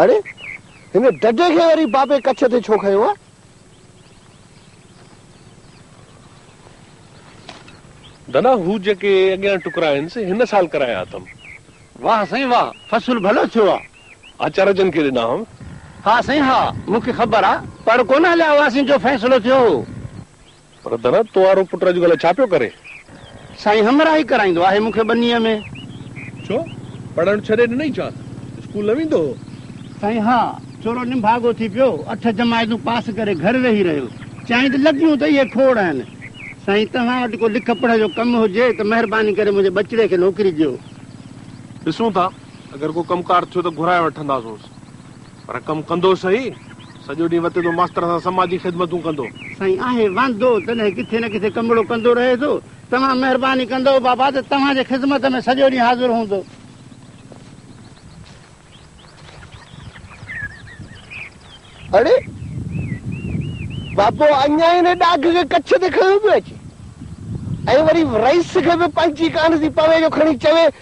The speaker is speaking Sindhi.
اڙي! هن ڊڍي کي وري بابي ڪڇ تي ڇو کنيو آهي؟ دنا، هو جيڪي اڳيان ٽڪرا آهن، سي هن سال ڪرايا اٿم. واهه سائين واهه، فصل ڀلو ٿيو آهي. آچار جن کي ڏنا هئم. ها سائين ها، مون کي خبر آهي. پڙ ڪونه هليا هئاسين جو فيصلو ٿيو هو. پر دره تو وارو پٽ اڄڪلهه ڇا پيو ڪري؟ سائين همراهي ڪرائيندو آهي مون کي ٻنيء ۾. ڇو؟ پڙهڻ ڇڏي ڏنئي ڇا؟ اسڪول نه ويندو هو؟ سائين ها، ٿورو نڀاڳو ٿي پيو، اٺ جماعتون پاس ڪري گهر ويهي رهيو. چيائين ته لڳيون ته اهي کوڙ آهن. سائين توهان وٽ ڪو لک پڙهه جو ڪم هجي ته مهرباني ڪري منهنجي ٻچڙي کي نوڪري ڏيو. ڏسون ٿا، اگر ڪو ڪم ڪار ٿيو ته گهرائي وٺنداسونس. پر ڪم ڪندو سهي. سڄو ڏينهن وتي ٿو ماستر سان سماجي خدمتون ڪندو. سائين آهي واندو تڏهن ڪٿي نه ڪٿي ڪمڙو ڪندو رهي ٿو. توهان مهرباني ڪندؤ بابا ته توهان جي خدمت ۾ سڄو ڏينهن حاضر هوندو. اڙي! بابو اڃا هن ڏاگهه کي ڪڇ تي کنيو پيو اچي ۽ وري رئيس کي به پنهنجي ڪانه ٿي پوي جو کڻي چوي